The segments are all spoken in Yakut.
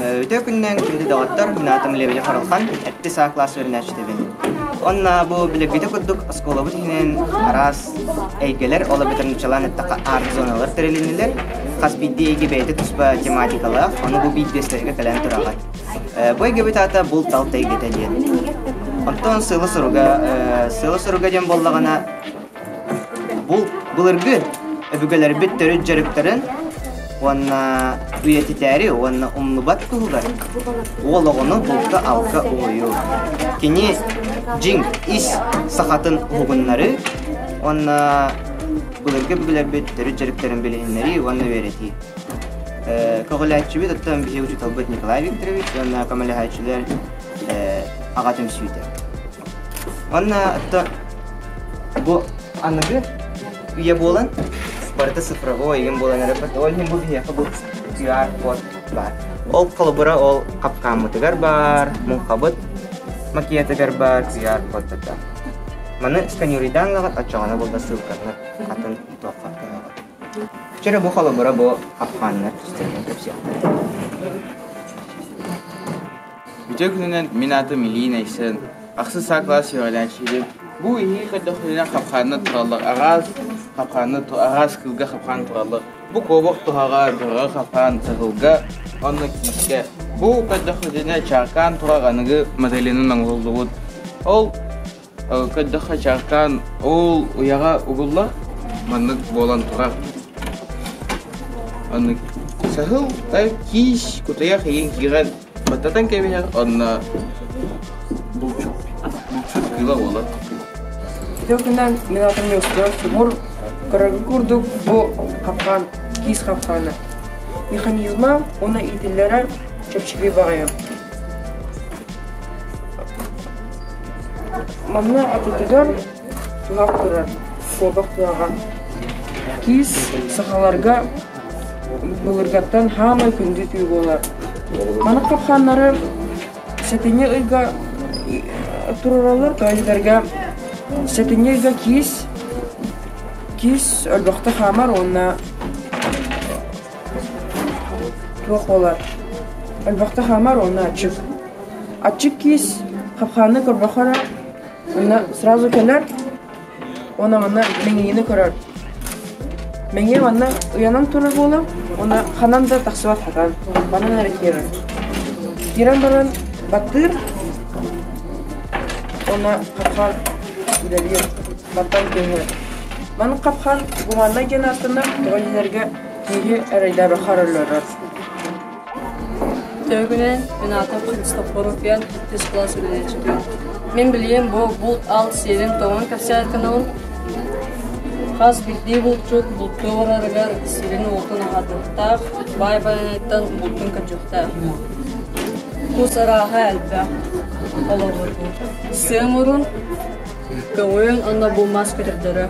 Өтө күннэн күндү доҕоттор, наатым Лебедев Харалхан, эппи саа класс үөрэнээччитэбин. Онна бу билэрбитэ курдук оскуолабыт иһинэн араас эйгэлэр, ол эбэтэр нучалаан эттахха арт зоналар тэрилиннилэр. Хас биирдии эйгэ бэйэтэ туспа тематикалаах, ону бу биирдэстэргэ кэлэн тураҕат. Бу эйгэбит аата бул талта эйгэтэ диэн. Оттон сыла суруга, сыла суруга диэн буоллаҕына, Бу былыргы өбүгэлэрбит төрүт дьарыктарын уонна үйэтитээри уонна умнубат туһугар уол оҕону булта-алка угуйуу. Кини дьиҥ ис сахатын уһугуннарыы уонна былыргы өбүгэлэрбит төрүт дьарыктарын билиһиннэрии уонна үөрэтии. Көҕүлээччибит оттон биһиги учууталбыт Николай Викторович уонна көмөлөһөөччүлэр аҕа түмсүүтэ. Уонна то бу аныгы үйэ буолан барыта цифровой ийэм буолан эрэ ол иһин бу биһиэхэ бу QR-код баар. Ол холобура ол хапкааммытыгар баар, муҥхабыт макетыгар баар QR-кодтата. Маны сканерыйдаан лаҕат оччоҕуна булда ссылканы атын туохха Вчера бу холобура бу хапкааннар түстерин кэпсиэхтэрэ. Үтүө күнүнэн мин аатым Илии Нэйсэн, ахсын саа-класс үөрэнээччибин. Бу иһии көрдөхпүтүнэ хапхааннар тураллар араас, хапхааннар араас кыылга хапхаан тураллар. Бу куобах туһаҕа, бөҕө хапхаан, чаҕылга уонна киискэ. Бу көрдөхпүтүнэ чааркаан турар аныгы моделинан оҥоһуллубут. Ол көрдөххө чааккаан ол уйаҕа угулла маннык буолан турар аны саһылтай киис кутайах иин киирэн баттатан кэбиһэр онно булчут булчут кыыла буолар ити күнүнэн мин атым Ньуустан субур көрөргө курдук бу хапкаан киис хапкаана механизма уна иитиллэрэ чэпчэки баҕайы Манна отутугар туһах турар суобах туһаҕа. Киис сахаларга былыргаттан хаамай күндү түү буолар. Маны хапханнары сэтинньи ыйга туруралар, тоойдарга сэтинньи ыйга киис киис өлбөхтө хаамар уонна Туох буолар? Өлбөхтө хаамар уонна аччык. Аччык киис хапхааны көрбөхөрө, уонна сразу кэлэр, уонна манна мэҥийини көрөр. Мэҥийэ манна уйанан турар буолан, уонна ханан да тахсыбат хатан, манан эрэ киирэр. Киирэн баран баттыыр, уонна хапхаан үлэлиир, баттан түһэр. Маны хапхаан гуманнай диэн ааттанар, тоҕо дилэргэ Киһи эрэйдэри харалларар Төргүнэн, Минатов Христофоруфян, иккис кылаас үлэлээчитин. Мин билиэм бу булт ал сиэрин тоҥон кэпсээтканаҕын хас биирдии булчут булту барарыгар сирин уолтун аһатыахтаах, баай байаныттан бултун көтүөхтээх. Кус арааһа элбэх олорбуту. Сыамурун, көҕүөн онно бу мас көтөрдөрө.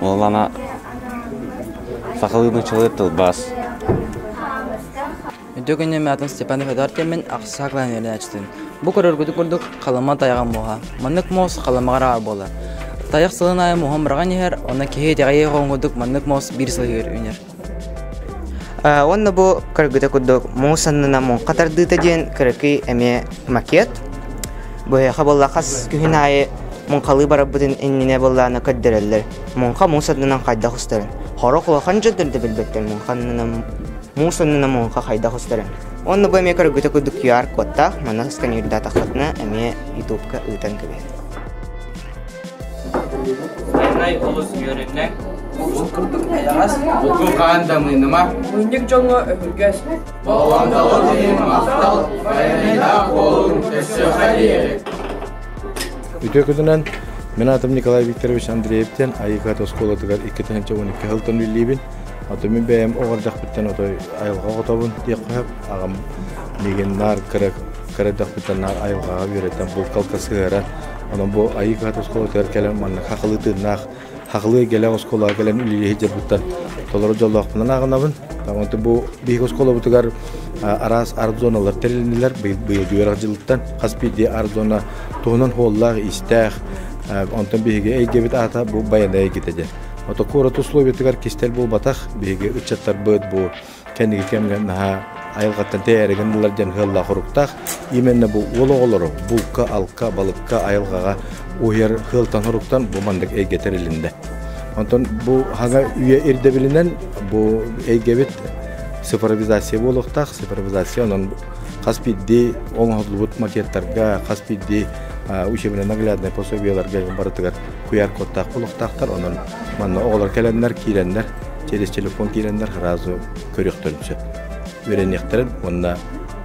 Ол ана сахалыы нуччалыыр тылбаас. Дөгүннем атын Степан Федортемин ақсаа кланернячытын. Бу көрөргүтүк курдук халыма тайаҕа муха. Маннык муос халымаҕара буолар. Тайах сылын айы муһам быраган иһэр, оны киһи итэҕэйи хоҥгурдук маннык муос биир сылыгыр үнер. Уонна бу кыргыта курдук муус аннына муҥха тардыыта диэн кыракый эмиэ макет. Быһыаха буолла хас күһүн аайы муҥхалыы барарбытын иннинэ буоллаана көрдөрөллөр. Муҥха муус аннынан хайдах устарын. Хорох улахан дьондорду билбэттэр муҥха аннынан муус аннына муҥха хайдах устарын. Уонна бу эмиэ кыргыта курдук QR-кодтаах манах сканердаатаххытына эмиэ ютубка ыытан кэбиһэр. Дальнай олус үөрүннэҥ. Уус курдук эйэҕэс. Угу хаан дамыыныма. Мунньук дьоҥҥо өһүргэс. Болҕомдоҕун тириэрэ махтал. Айаннаах буолуҥ өссө хайыарык. Үтүөкүтүнэн мин атым Николай Викторович Андреевтен Айыкат оскуолатыгар иккитинчи он икки сылтан үллиибин. Атым бэйэм оҕардахпыттан отой айылҕа хотобун диэххэ аҕам мигин наар кырак кыра өтөхпүттэн наар айылҕаҕа үөрэтэн булкалка сыһыаран онон бу айыы кыһат оскуолатыгар кэлэн маннык хахылыы тыыннаах хахылыы эгэлээх оскуолаҕа кэлэн үлүйэ сылдьарбыттан толору дьоллоохпунан ааҕынабын Таманты бу биһиги оскуолабытыгар араас арт зоналар тэрилиннилэр быйылгы үөрэх дьылыттан хас биирдии арт зона туһунан хуоллаах-иистээх онтон биһиги эйдиэбит аата бу байанай эйгитэ диэн Отоку урут условиятыгар кистэл буолбатах биһиги ыччаттарбыт бу Кэнники кэмҥэ наһаа айылҕаттан тэйээрэгэн буолар диэн сыаллаах уруктаах. Именно бу уол оҕолору булка-алка, балыкка, айылҕаҕа уһуйар сыалтан соруктан бу маннык эйгэ тэрилиннэ. Онтон бу хаҥа үйэ ирдэбилинэн бу эйгэбит цифровизация буолуохтаах. Цифровизация онон хас биирдии оҥоһуллубут макеттарга, хас биирдии учебно-нагляднай пособиеларга барытыгар QR-кодтаах олохтоохтор, онон манна оҕолор кэлэннэр, киирэннэр, через телефон киирэннэр сразу көрүөхтэрин сөп, үөрэниэхтэрин уонна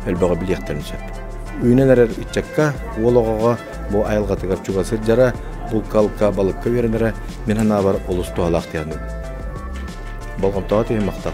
өлбөҕө билиэхтэрин сөп. Үүнэн эрэр ыччакка, уол оҕоҕо бу айылҕатыгар чуга сылдьара, булкалка, балыкка үөрэнэрэ мин санаабар олус туһалаах диэхним. Болҕомтоҕо түһүн махтал.